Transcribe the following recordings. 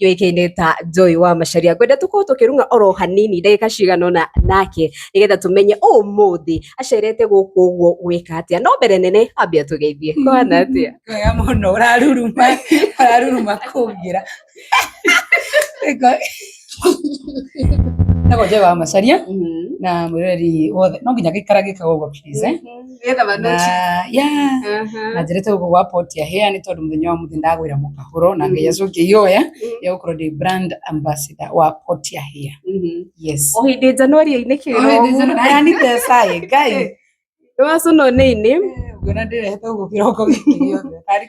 yũĩkaine ta Joy wa Macharia ngwenda tũkorwo tũkĩrung'a oro hanini ndagĩka cigana ũna nake nĩgetha tũmenye ũmũthĩ acerete gũkũ ũguo gwĩka atĩa no mbere nene ambe atũgeithie kwana atĩa wega mũno ũraruruma ũraruruma kũngira nagwo njoe wa macaria na mwĩroreri wothe no nginya gĩikara gĩkaga ũguo please eh? Nĩgetha manoki. na ya Aha. na njĩrĩte gũkũ gwa poti ya hĩa nĩ tondũ mũthenya wa mũthĩ ndagwĩra mũkahũro na ngai acu ngĩioya ya gũkorwo ndĩ brand ambassador wa poti ya hĩa Mhm. yes O hĩndĩ Januari-inĩ kĩroko. ayanite saĩ ngai Nĩwacũnwo nĩ ini. nguona ndĩrehete gũkũ kĩroko gĩkĩ gĩothe Tarĩ-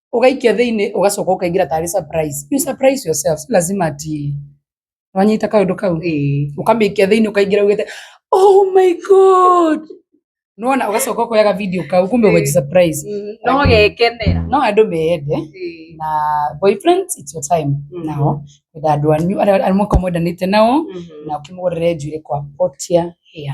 ũgaikia thĩinĩ ũgacoka ũkaingĩra tarĩ surprise you surprise yourself si lazima ati wanyita kaũndũ kau Ĩĩ. ũkamĩikia thĩinĩ ũkaingĩra ugĩte oh my god nona ũgacoka ũkoyaga video kau kumbe Ĩĩ. ũgaji surprise Mm, no gekenera no andũ meende Ĩĩ. na boyfriends it's your time Mhm. nao kwenda andũ anyu arĩa arĩa mwaka mwendanĩte nao Mhm. na ũkĩmũgũrĩre njuĩrĩ kwa potia hĩa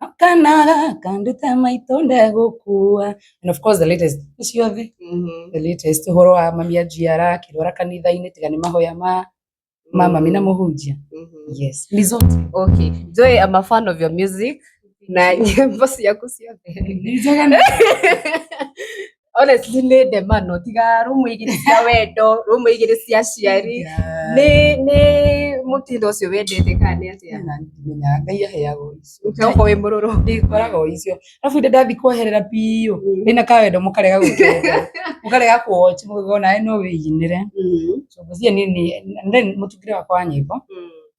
akana kandute maitå ndegå kua and of course the latest nä ciothe Mhm. the latest å horo wa mami anjiara akä rwara kanitha-inä tiga nä mahoya ma ma mami na må hunjia Mhm. yes Lizot. Okay. Joy, I'm a fan of your music. Na nyimbo ciaku ciothe. Nĩ njega na- honestly nä ndemano tiga rå må igä rä cia wendo rå må igä rä cia ciari nä nä må tindo å cio wendete kana nä atä ndimenyaga ngai aheaga icio ukorwo wä må rå rå ndĩkoraga o icio arabu inde ndathi kweherera biũ ndĩna kawendo mũkarega gũkenda mũkarega kuochi mũgona no wĩinĩre so gũthiĩ nini and then mũtungĩre wakwa wa nyĩmbo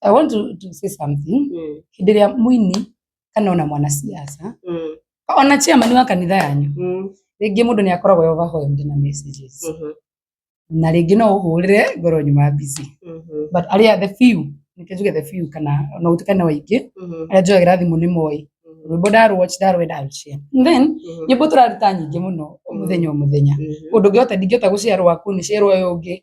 I want to, to say something Mm. hĩndĩ ĩrĩa mũini kana ona mwanasiasa Mm. ona chairman wa kanitha yanyu Mm. rĩngĩ mũndũ nĩ akoragwo e overwhelmed na messages Mhm. na rĩngĩ no ũhũrĩre ngoro nyuma busy Mhm. but arĩa the few nĩkĩo njuge the few kana ona gũtuĩka nĩ waingĩ Mhm. arĩa njoyagĩra thimũ nĩ moĩ Mhm. rwĩmbo ndarwatch ndarwenda I'll share. And then Mhm. nyĩmbo tũraruta nyingĩ mũno o mũthenya o mũthenya Mhm. ũndũ ũngĩhota ndingĩhota gũciarwo waku nĩ ciarwo ũyũ ũngĩ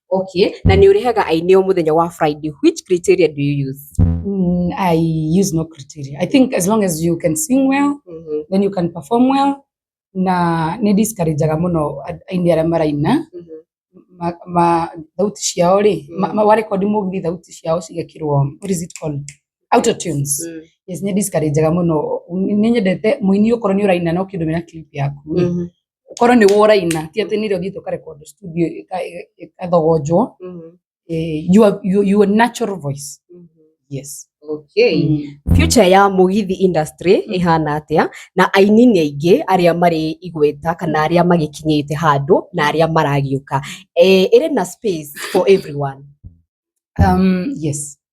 Okay, na nĩ ũrĩhaga aini o mũthenya wa Friday. Which criteria do you use? Mm, I use no criteria. I think as long as you can sing well, Mhm, then you can perform well, na nĩ discourageaga mũno a- aini arĩa maraina mhm. ma, ma thauti ciao rĩ Mm. ma, ma warekondi mũgithi thauti ciao cigekĩrwo what is it called auto tunes Mm, yes nĩ discourageaga mũno nĩ nyendete mũini ũkorwo nĩ ũraina no kĩndũ mena clip yaku rĩ, mhm. ũkorwo nĩ woraina ti atĩ nĩ rĩo ũthiĩte ũkarekondwo studio ĩka- ĩka- ĩgathogonjwo Mhm. eh, your, your, your natural voice Mhm. yes Okay. Mm. future ya mugithi industry ĩhana atĩa na aini nĩ aingĩ arĩa marĩ igweta kana arĩa magĩkinyĩte handũ na arĩa maragĩũka Eh, ĩrĩ na space for everyone Um, yes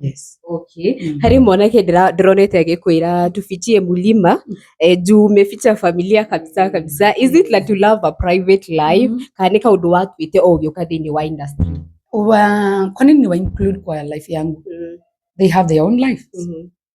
yes. okay Mm. harĩ mwanake ndĩra- ndĩronete agĩkwĩra tufichie mulima eh, juu umeficha familia kabisa kabisa is it like to love a private life Mhm. kana nĩ kaũndũ watuĩte o ũgĩũka thĩinĩ wa industry Wa- kwa nini wa include kwa life yangu they have their own life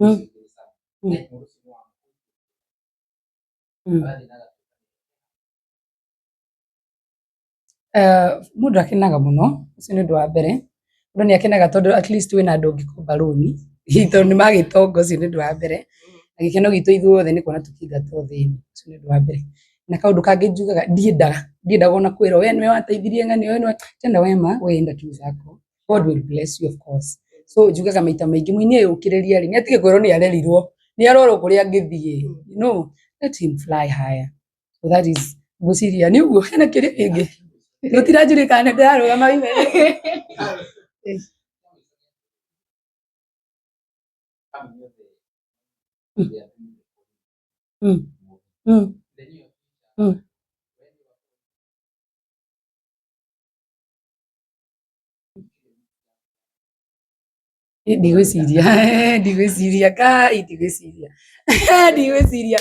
Mm. Mm. Mm. Eh, mũndũ akenaga mũno ũcio nĩ ũndũ wa mbere mũndũ nĩ akenaga tondũ at least wĩna andũ ũngĩkomba rũni tondũ nĩ magĩtonga ũcio nĩ ũndũ wa mbere na gĩkeno gitũ ithuothe nĩ kuona tũkĩingatwo thĩinĩ ũcio nĩ ũndũ wa mbere na kaũndũ kangĩ njugaga ndiendaga ndiendaga ona kwĩrwo we nĩwe wateithirie ng'ani we nĩwe tena we ma we enda tu zako God will bless you of course so njugaga maita maingĩ mũini ũyũ ũkĩrĩria rĩ nĩatige kwĩrwo nĩ arerirwo nĩ arorwo kũrĩa angĩthiĩ you know let him fly higher so that is ngwĩciria nĩ ũguo hena kĩrĩa kĩngĩ tũtiranjũrĩ kana ndĩrarũgama ime Mm. Mm. Mm. ndigwĩciria ndigwĩciria kai ndigwĩciria ndigwĩciria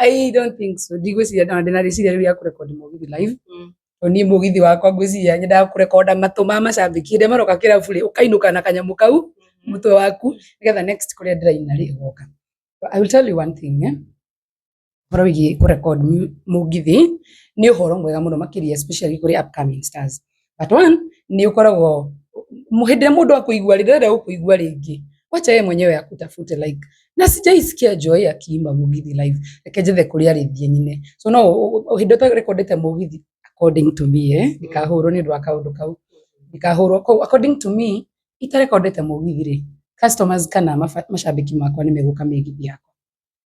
i don't think so ndigwĩciria na ndĩna rĩciria rĩu ya kũrekondi mũgithi live Mm. to niĩ mũgithi wakwa ngwĩciria nyendaga kũrekonda matũ ma macambĩki hĩndĩ ĩrĩa maroka kĩrabu rĩ ũkainũka na kanyamũ kau mũtwe waku nĩgetha next kũrĩa ndĩraina rĩ ũgoka But i will tell you one thing eh? ũhoro wĩgiĩ kũ record mũgithi nĩ ũhoro mwega mũno makĩria especially kũrĩ upcoming stars but one nĩ ũkoragwo hĩndĩ ĩrĩa mũndũ akũigua rĩ ndĩrenda gũkũigua rĩngĩ wacha yeye mwenyewe akutafute like na sijaisikia Joy akiimba mũgithi live reke njethe kũrĩa rĩngĩ nyine so no hĩndĩ ĩrĩa ũrekondete mũgithi according to me eh ndikahũrwo nĩ ũndũ wa kaũndũ kau ndikahũrwo kau according to me itarekondete mũgithi rĩ customers kana maba- macambĩki makwa nĩ megũka mĩgithi yakwa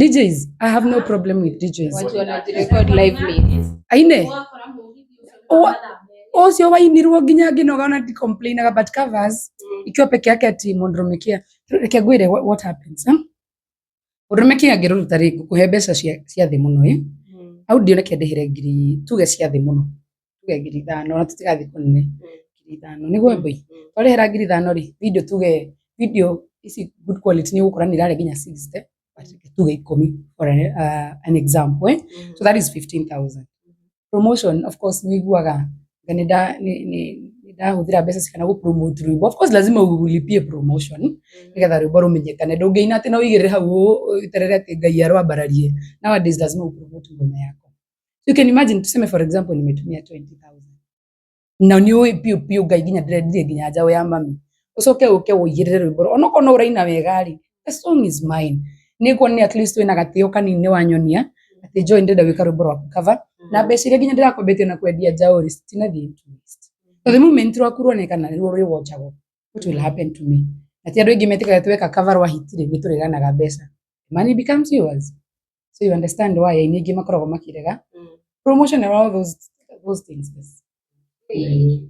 DJs, I have no problem with DJs. Watu wanajirecord lively. Aine. Owa- Ocio wainirwo nginya nginoga ona ndicomplainaga but covers ikiwa peke yake ati mundu rumikia reke ngwire what, what happens huh? rumikia ngiruruta ri ngukuhe mbeca cia cia thi muno eh? au ndione kĩndĩhĩre ngiri tuge cia thĩ mũno tuge ngiri ithano na tũtigathiĩ kũnene ngiri ithano nĩ gwembei twarĩhĩra ngiri ithano rĩ video tuge video ici good quality nĩ ũgũkora nĩ irarĩa nginya 60 but tuge ikũmi for an, uh, an example eh? so that is 15000 promotion of course nĩ iguaga nga nĩ nda- nĩ- nĩ- nĩ ndahũthĩra mbeca cigana gũ promote rwĩmbo of course lazima ũlipie promotion nĩgetha rwĩmbo rũmenyekane ndũngĩina atĩ no ũigĩrĩre hau ũũ, ũterere atĩ ngai arwambararie nowadays lazima ũpromote ngoma yako You can imagine tuseme for example nimetumia 20000. Na ni uyu piu piu ngai ginya ndire ginya njawe ya mami. Ucoke uke uyirire rwimbo. Onoko no uraina wega ri. The song is mine. Ni kuona ni at least wina gatio kanini wanyonia ati joy ndenda wika rwimbo rwa cover. Na mbeca iria ginya ndirakombete na kwendia njaũ ri citinathiĩ into waste. So the moment rwaku ruoneka na ruo rwĩwonjagwo what will happen to me? Ati andũ aingĩ metĩkaga tweka cover rwa hit ri nĩ tũrĩganaga mbeca. Money becomes yours. so you understand why aini aingĩ makoragwo makĩrega Mm. promotion and all those, those things yes. Ĩĩ.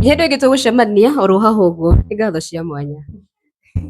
hĩndĩ ĩngĩ tũgũcemania oro haha ũguo nĩ ngatho cia mwanya